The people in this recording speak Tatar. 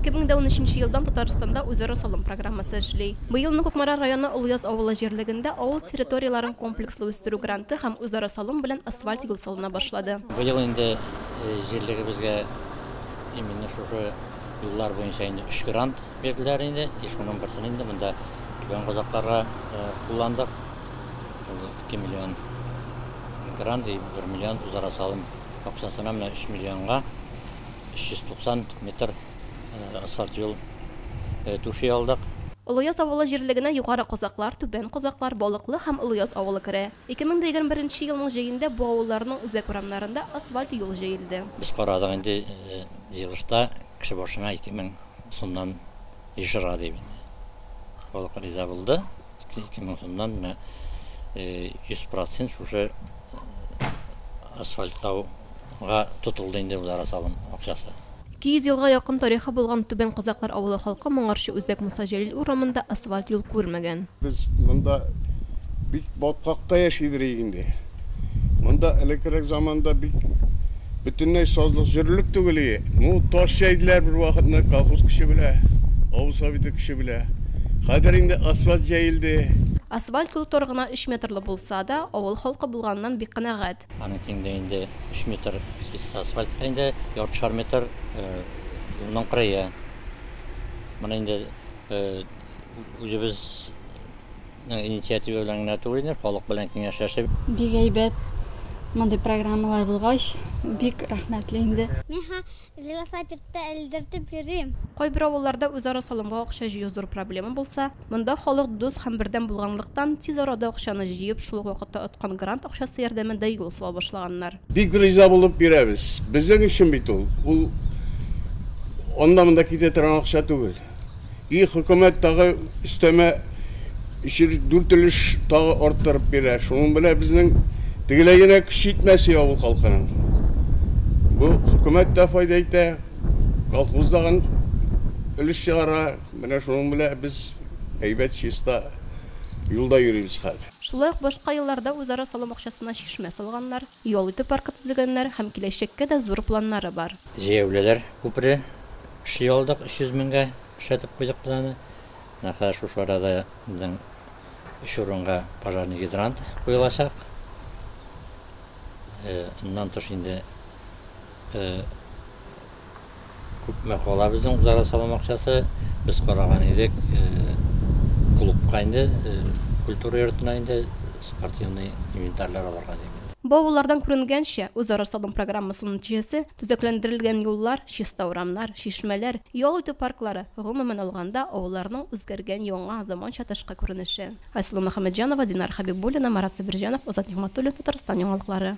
2013 елдан Татарстанда үзара салым программасы эшли. Быелны Кукмара районы Олыяз авылы җирлегендә авыл территорияләрен комплекслы үстерү гранты һәм үзара салым белән асфальт юл салына башлады. Быел инде җирлегебезгә именно шушы юллар буенча инде өч грант бирделәр инде. И шуның берсен инде монда Түбән Казакларга кулландык. Ул 2 миллион грант и 1 миллион үзара салым акчасына, менә 3 миллионга. 390 метр асфальт юл түши алдык. Олыяз авылы җирлегенә Югары Козаклар, Түбән Козаклар, Балыклы һәм Олыяз авылы керә. 2021 нче елның җәендә бу авылларның үзәк урамнарында асфальт юл җәелде. Без карадык инде, җыелышта кеше башына 2000 сумнан ешырга дип инде. Халык риза булды. Ике мең сумнан менә 100 процент шушы асфальтлауга тотылды инде үзара салым акчасы. 200 елга якын тарихы булган Түбән Казаклар авылы халкы моңарчы үзәк Муса Җәлил урамында асфальт юл күрмәгән. Без монда бик баткакта яшибез инде. Монда элеккерәк заманда бит бөтенләй сазлык җөрлек түгел ие. Ну, таш җәйделәр бер вакытны колхоз көче белә, авыл советы көче белә. Хәзер инде асфальт җәелде. Асфальт юл тар гына өч метрлы булса да, авыл халкы булганыннан бик канәгать. Аның киңлеге инде өч метр, чиста асфальт та инде яртышар метр юлның кырые. Моны инде үзебез. Инициатива белән генә түгел инде, халык белән киңәшләшеп. Бик әйбәт мондый программалар булгач, бик рәхмәтле инде. Мин һәм велосапедта элдертеп йөрим. Кайбер авылларда үзара салымга акча җыю зур проблема булса, монда халык дус һәм бердәм булганлыктан, тиз арада акчаны җыеп, шул ук вакытта откан грант акчасы ярдәмендә юл сала башлаганнар. Бик риза булып бирәбез. Безнең өчен бит ул. Ул анда-монда китә торган акча түгел. И хөкүмәт тагы өстәмә өч өлеш, дүрт өлеш тагы арттырып бирә. Шуның белән безнең тегеләй генә көч җитмәси авыл халкының. Бу хөкүмәт тә файда итә, колхоз да гын өлеш чыгара. Менә шуның белән без әйбәт, чиста юлда йөрибез хәзер. Шулай ук башка елларда үзара салым акчасына чишмә салганнар, ял итү паркы төзегәннәр һәм киләчәккә дә зур планнары бар. Җәяүлеләр күпере эшли алдык, 300 меңгә эшләтеп куйдык без аны. Менә хәзер шушы арада безнең өч урынга пожарный гидрант куелачак. Моннан тыш инде Күпме кала безнең удара салым акчасы? Без караган идек, клубка инде, культура йортына инде спортивный инвентарьлар алырга дип инде. Баулылардан күренгәнчә, үзара салым программасының нәтиҗәсе, төзекләндерелгән юллар, чиста урамнар, чишмәләр, ял итү парклары, гомумән алганда, авылларның үзгәргән яңа, заманча тышкы күренеше. Айсылу Мөхәммәтҗанова, Динар Хәбибуллина, Марат Сабирҗанов, Азат Нигъмәтуллин, Татарстан яңалыклары.